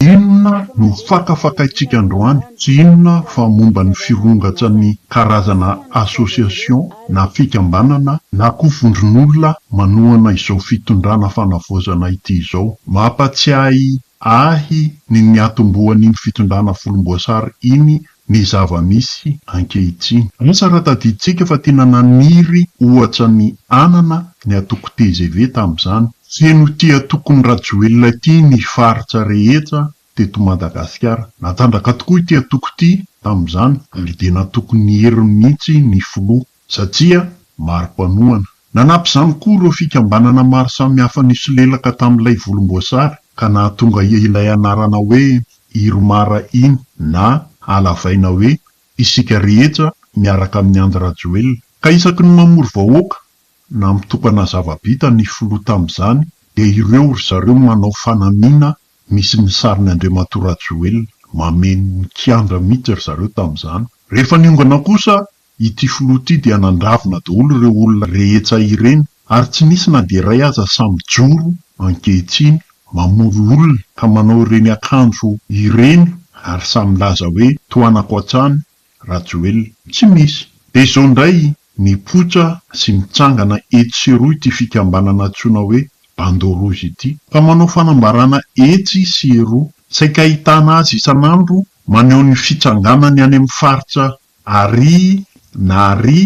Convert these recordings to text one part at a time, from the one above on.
Inona no fakafakaintsika androany? Tsy inona fa momba ny firongatsan'ny karazana association na fikambanana na koa vondron'olona manohana izao fitondrana fanavaozana ity izao. Mampatsiahy ahy ny niatombohan'iny fitondrana volomboasary iny ny zava-misy ankehitriny. Asa raha tadidintsika fa tena naniry ohatra ny anana ny antoko tgv tamin'izany. Feno ity antokon'i Rajoelina ity ny faritra rehetra teto Madagasikara. Natanjaka tokoa ity antoko ity tamin'izany ary dia natokin'ny heriny mihitsy ny filoha. satria maro mpanohana. Nanampy izany koa ireo fikambanana maro samihafa nisolelaka tamin'ilay volomboasary ka nahatonga ilay anarana hoe Irmar iny na halavaina hoe Isika rehetra miaraka amin'i Andry Rajoelina. Ka isaky ny mamory vahoaka na mitokana zava-bita ny filoha tamin'izany dia ireo ry zareo manao fanamiana misy ny sarin'i Andriamatoa Rajoelina. Mameno ny kianja mihitsy ry zareo tamin'izany. Rehefa niongana kosa Ity filoha ity dia nandravona daholo ireo olona rehetsa ireny ary tsy nisy na dia iray aza sahy mijoro ankehitriny mamory olona ka manao ireny akanjo ireny ary sahy milaza hoe tohanako hatrany Rajoelina. Tsy misy. Dia izao indray mipoitra sy mitsangana etsy sy eroa ity fikambanana antsoina hoe Bandeau Rouge ity ka manao fanambarana etsy sy eroa. Saika ahitana azy isan'andro maneho ny fitsanganany any amin'ny faritra Ary na ary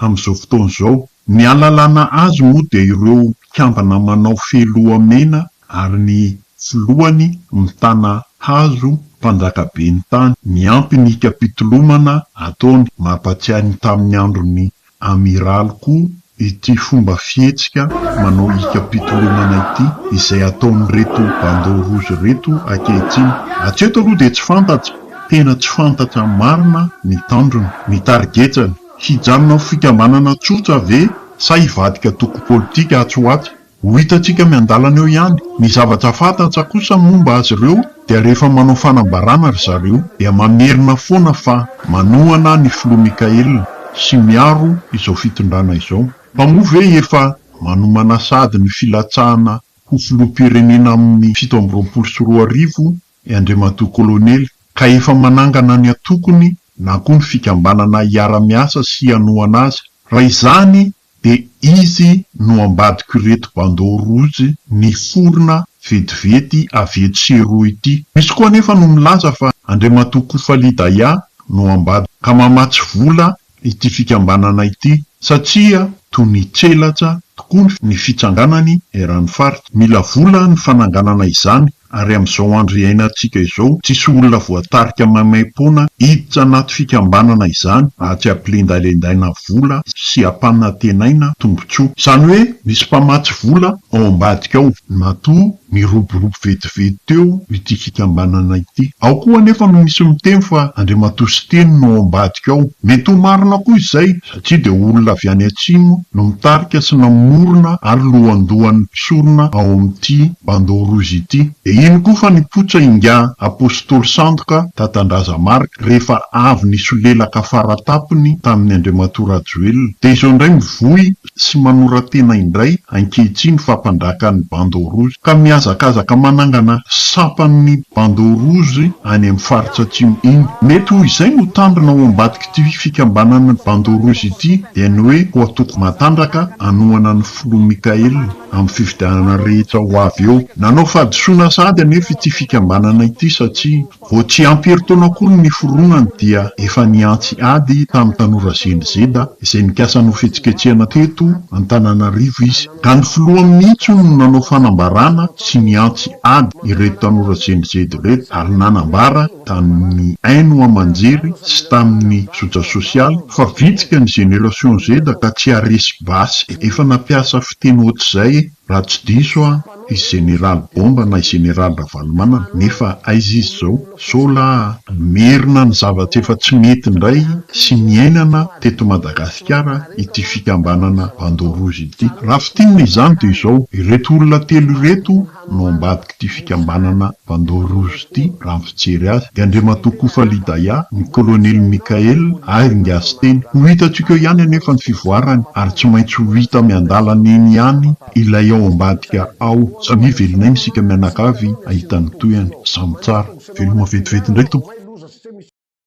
amin'izao fotoana izao. Ny alalana azy moa dia ireo mpikambana manao fehiloha mena ary ny filohany mitana hazo mpanjaka ben'ny tany. Miampy ny hikapitolomana ataony. Mampatsiahy ny tamin'ny andron'i Amiraly koa ity fomba fihetsika manao hikam-pitolomana ity izay ataon'ireto bandeau rouge ireto ankehitriny. Hatreto aloha dia tsy fantatra, tena tsy fantatra marina ny tanjony, ny targetany. Hijanona ho fikambanana tsotra ve sa hivadika antoko politika atsy ho atsy? Ho hitantsika miandalana eo ihany. Ny zavatra fantatra kosa momba azy ireo dia rehefa manao fanambarana ry zareo dia mamerina foana fa manohana ny Filoha Mickael sy miaro izao fitondrana izao. Fa moa ve efa manomana sahady ny filatsahana ho Filoham-pirenena amin'ny fito amby roapolo sy roa arivo i Andriamatoa Kolonely ka efa manangana ny antokony na koa ny fikambanana hiara-miasa sy hanohana azy? Raha izany De izy no ambadiko ireto bandeau rouge niforona vetivety avy eto sy eroa ity. Misy koa anefa no milaza fa Andriamatoa Koufaly-Daya no ambadiko ka mamatsy vola ity fikambanana ity satria toa nitselatra tokoa ny fitsanganany eran'ny faritra. Mila vola ny fananganana izany Ary amin'izao andro iainantsika izao, tsisy olona voatarika maimaim-poana hiditra anaty fikambanana izany raha tsy ampilendalendaina vola sy ampanantenaina tombontsoa. Izany hoe misy mpamatsy vola ao ambadika ao. Matoa niroborobo vetivety teo ity fikambanana ity. Ao koa anefa no misy miteny fa Andriamatoa Siteny no ao ambadika ao. Mety ho marina koa izay. Tsy dia olona avy any atsimo no mitarika sy namorona ary lohandohan'ny mpisorona ao amin'ity Bandeau Rouge ity. Dia iny koa fa nipotsa ingahy Apostoly Sandoka dadan-dRazamarc rehefa avy nisolelaka faratapony tamin'ny Andriamatoa Rajoelina. Dia izao indray mivoy sy manora-tena indray ankehitriny fampandraka ny Bandeau Rouge. Ka mihazakazaka manangana sampan'ny Bandeau Rouge any amin'ny faritra atsimo iny. Mety ho izay no tanjona ao ambadik'izany. Ity fikambanana Bandeau Rouge ity dia ny hoe ho antoko matanjaka hanohana ny filoha Mickaël amin'ny fifidianana rehetra ho avy eo. Nanao fahadisoana sahady anefa ity fikambanana ity satria vao tsy ampy herintaona akory ny niforonany dia efa nihantsy ady tamin'ny tanora Gen Z izay nikasa hanao fihetsiketsehana teto Antananarivo izy ka ny filoha mihitsy hono no nanao fanambarana sy nihantsy ady ireto tanora Gen Z ireto ary nanambara tamin'ny haino aman-jery sy tamin'ny zotra sosialy fa vitsika ny génération Z ka tsy haharesy basy. Efa nampiasa fiteny ohatr'izay raha tsy diso aho i Général Bomba na i Général Ravalomanana nefa aiza izy izao? Sao la. Merina ny zavatra efa tsy nety indray sy niainana teto Madagasikara ity fikambanana Bandeau Rouge ity. Raha fintinina izany dia izao, ireto olona telo ireto no ambadik'ity fikambanana Bandeau Rouge ity raha ny fijery azy, i Andriamatoa Koufa Lidaya, ny Kolonely Mickaël ary Ngasy Teny. Ho hitantsika eo ihany anefa ny fivoarany ary tsy maintsy ho hita miandalana eny ihany ilay ao ambadika ao. Samia velona aina isika mianakavy hahita ny tohiny. Samy tsara. Veloma vetivety indray tompoko.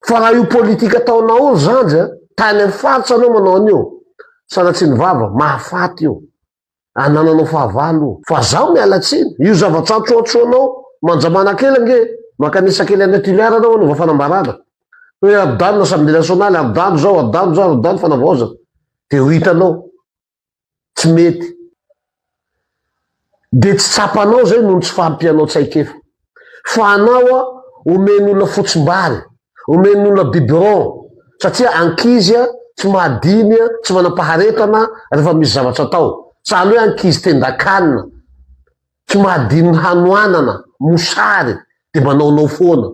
Fa raha io politika ataonao io zandry a, tany amin'ny faritra anao manao an'io, sanatria ny vava, mahafaty io. Anananao fahavalo io. Fa zaho miala tsiny, io zavatra antroantroanao, manja manakely ange, mankanisa kely an'i Toliara anao hanova fanambarana. Hoe adano, assemblée nationale, adano zao, adano zao, adano fanavaozana. Dia ho hitanao. tsy mety dia tsy tsapanao zay noho ny tsy fahampianao tsaikefa fa anao a omen'ny olona fotsimbary omen'ny olona biberon satria ankizy a tsy mahadiny a tsy manam-paharetana rehefa misy zavatra atao sahala hoe ankizy tendan-kanina Tsy mahadinony hanoanana mosary de manaonao foana.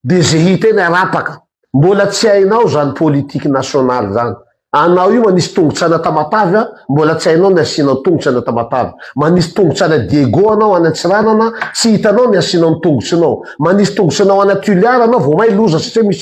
De ze hita eny arapaka. Mbola tsy hainao zany politique nationale zany. Anao io manisy tongotsana tamatave a mbola tsy hainao ny asianao tongotsy any tamatave. Manisy tongotsy any Diego anao any Antsiranana tsy hitanao ny asianao ny tongotsinao. Manisy tongotsinao any Tuliar anao vao may loza satria misy.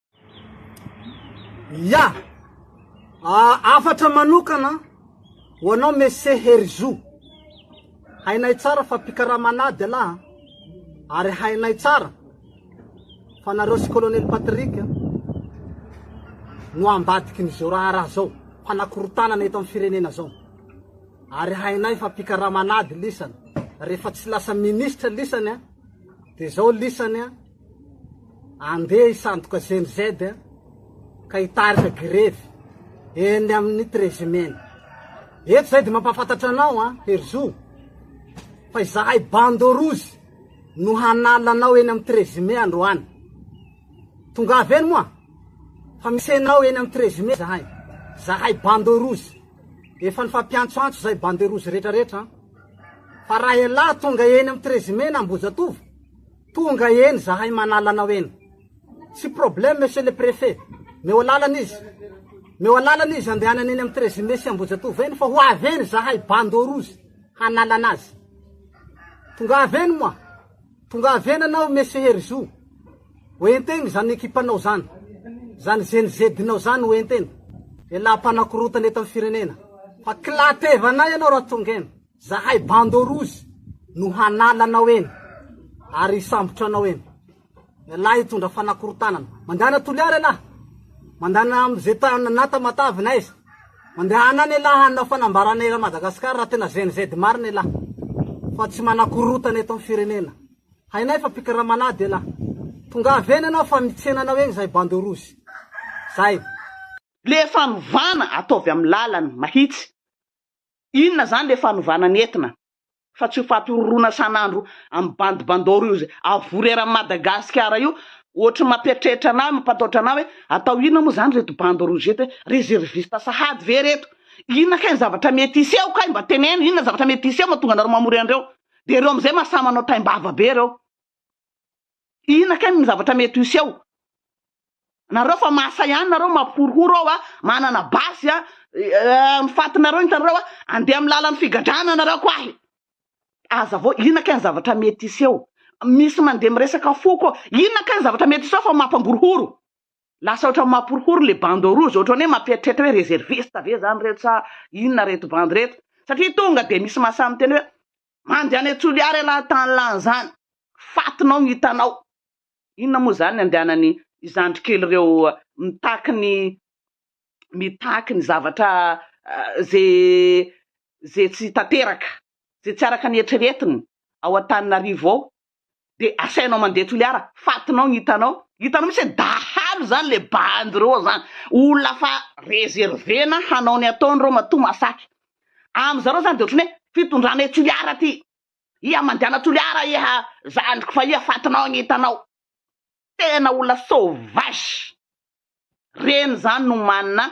Ya! Hafatra manokana ho anao Monsieur Herizo. Hainay tsara fa mpikarama anà Dela a! Ary hainay tsara fa nareo sy Colonel Patrick no ambadikin'izao raharaha zao, mpanakorontanana eto amin'ny firenena zao. Ary hainay fa mpikarama anà lisany. Rehefa tsy lasa Ministra lisany dia zao lisany. Andeha hisandoka Gen Z ka hitarika grevy eny amin'ny Trezimena. Eto izay dia mampahafantatra anao an, Herizo, fa izahay Bando Rouge no hanala anao eny amin'ny Trezime androany. Tongava eny moa fa misy anao eny amin'ny Trezime izahay. Izahay Bando Rouge. Efa nifampiantsoantso izay Bande Rouge rehetrarehetra an. Fa raha ialahy tonga eny amin'ny Trezime na Ambohijatovo, Tonga eny zahay manala anao eny. Tsy problème monsieur le préfet. Meo alalana izy. Meo alalana izy andehanany eny amin'ny treize mai sy Ambohijatovo eny fa ho avy eny zahay bandeau rouge hanala anazy. Tongava eny moa. Tongava eny anao monsieur Herizo. Ho entegny zany ekipanao zany. Zany zenizedinao zany ho entegny. Elah mpanakorotana eto amin'ny firenena. Fa kila tevanay ianao raha tonga eny. Zahay bandeau rouge no hanala anao eny ary hisambotra anao eny. Ialahy hitondra fanakorontanana. Mandehana Toliara ialahy. Mandehana amin'izay tany na Tamatave na aiza. Mandehana any ialahy hanao fanambarana eran'i Madagasikara raha tena GNZ marina ialahy. Fa tsy manakorotana eto amin'ny firenena. Hainay fa mpikaramana ady ialahy. Tongava eny ianao fa mitsena anao eny zahay bandeau rouge. Zay. Le fanovana ataovy am lalana mahitsy Inona zany le fanovana ny etna fa tsy io fatororona sanandro am bandy bandoro io zay avory eran Madagasikara io ohatry ny mapiatrehitra anah mampataotra anah hoe atao inona moa zany reto bandy rouge eto hoe reserviste sahady ve reto inona kay ny zavatra mety hiseho kay mba teneno inona zavatra mety hiseho matonga anareo mamory anreo de reo amzay mahasahy manao taim-bava be reo. Inona kay ny zavatra mety hiseho? Nareo fa mahasahy ihany nareo mampihorohoro ao a, manana basy a, ny fatinareo hitanareo a, andeha amin'ny lalan'ny figadrana nareo ko ahy. Azavao inona kay ny zavatra mety hiseho? Misy mandeha miresaka fo ko, inona kay ny zavatra mety hiseho fa mampangorohoro? Lasa ohatran'ny mampihorohoro le bande rouge, ohatran'ny hoe mampieritreritra hoe reserviste ve zany reto sa inona reto bandy reto? Satria tonga dia misy mahasahy miteny hoe Mandeha any Toliara ialahy tany lany zany fatinao no hitanao. Inona moa zany ny andehanany zandry kely reo mitaky ny mitaky ny zavatra ze ze tsy tanteraka ze tsy araka ny eritreretiny ao Antananarivo ao dia asainao mandeha toliara, fatinao ny hitanao, hitanao mihitsy hoe dahalo izany ilay bandy ireo ao izany, olona efa reserver-na hanao ny ataony ireo matoa masaky, amin-dry zareo izany dia ohatran'ny hoe fitondrana etsy toliara ity, iha mandehana toliara iha zandriko fa iha fatinao ny hitanao, tena olona sauvage, ireny izany no manana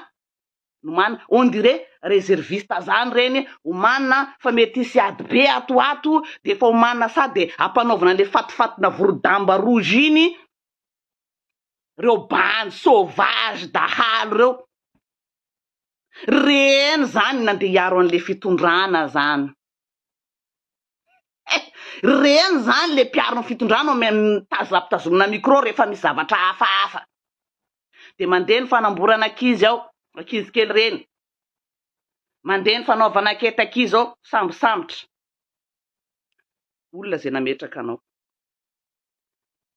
Nomana, on dirait reserviste zany reny, omanina fa mety hisy ady be ato ho ato dia efa omanina sady ampanaovina an'ilay fatifatina vorodamba rouge iny reo bandy sauvage dahalo reo. Reny zany nandeha hiaro an'ilay fitondrana zany. Ireny izany ilay mpiaro ny fitondrana mitazatazomina micro rehefa misy zavatra hafahafa. Dia mandeha ny fanamborana ankizy ao, ankizy kely ireny. Mandeha ny fanaovana ankety ankizy ao, sambosambotra. Olona izay nametraka anao.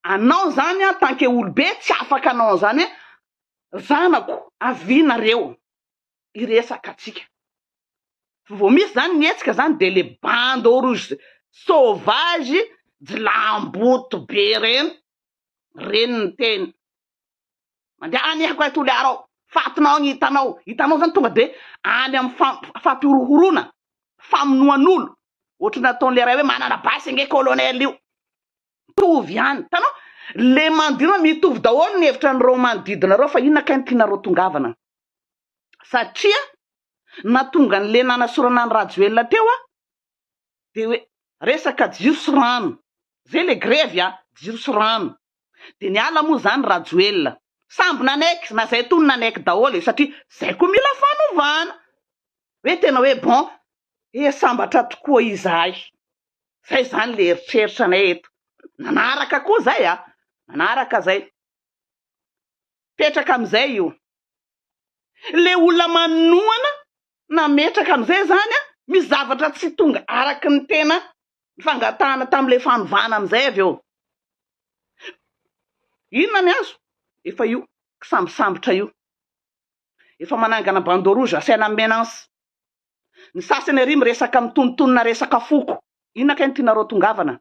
Anao izany en tant que olobe tsy afaka hanao an'izany hoe, zanako, avia nareo. hiresaka antsika. Vao misy zany ny hetsika zany de le bande au rouge sauvage jilamboto be reny reny ny teny mandeha any akoay toliara ao fatinao ny hitanao hitanao zany tonga de any am fampihorohorona famonoan'olo ohatry ny ataon'le ray hoe manana basy ange colonel io mitovy ihany. Hitanao? Ilay manodidina anao, mitovy daholo ny hevitran'ireo manodidina ireo fa inona kay no tianareo tongavana? Satria nahatonga an'ilay nanasorana an'i Rajoelina teo aho dia hoe resaka jiro sy rano, izay ilay grevy a, jiro sy rano. Dia niala moa izany Rajoelina. Samby nanaiky, na izay tony nanaiky daholo e, satria izay koa mila fanovana. Hoe tena hoe bon, eh sambatra tokoa izahay. Zay zany le eritreritra anay eto. Nanaraka koa zay a! Nanaraka zay. Petraka amizay io. Le olona manohana nametraka amizay zany a, misy zavatra tsy tonga araky ny tena fangatahana tamle fanovana amizay avy eo. Inona ny azo? Efa io kisambisambotra io. Efa manangana bandeau rouge asaina menace. Ny sasany ary miresaka mitonontonona resaka foko. Inona kay no tianareo tongavana?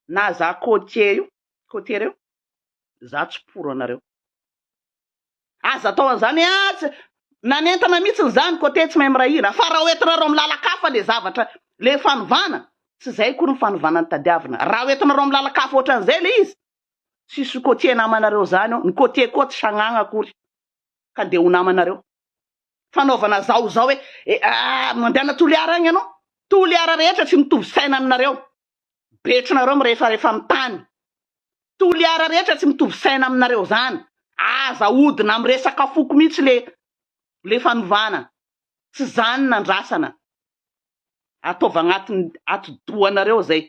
Na za côtier io, côtier reo, za tsy pour anareo. Aza atao an'zany ee ah, tsy, nanentana mihitsiny za ny côtier tsy mahay miray hina, fa raha hoentinareo amin'ny lalan-kafa le zavatra, le fanovana, tsy zay akory ny fanovana no tadiavina. Raha hoentinareo amin'ny lalan-kafa ohatran'izay le izy, tsisy côtier namanareo zany ao, ny côtier koa tsy sagnagna akory. ka dia ho namanareo. Fanaovana zao zao hoe eeh mandehana Toliara agny anao, Toliara rehetra tsy mitovy saina aminareo, betrinareo mirefarefa amin'ny tany, Toliara rehetra tsy mitovy saina aminareo zany, aza ahodina amin'ny resaka foko mihitsy le le fanovana, tsy zany nandrasana, ataovy agnatin'ny atidohanareo zay.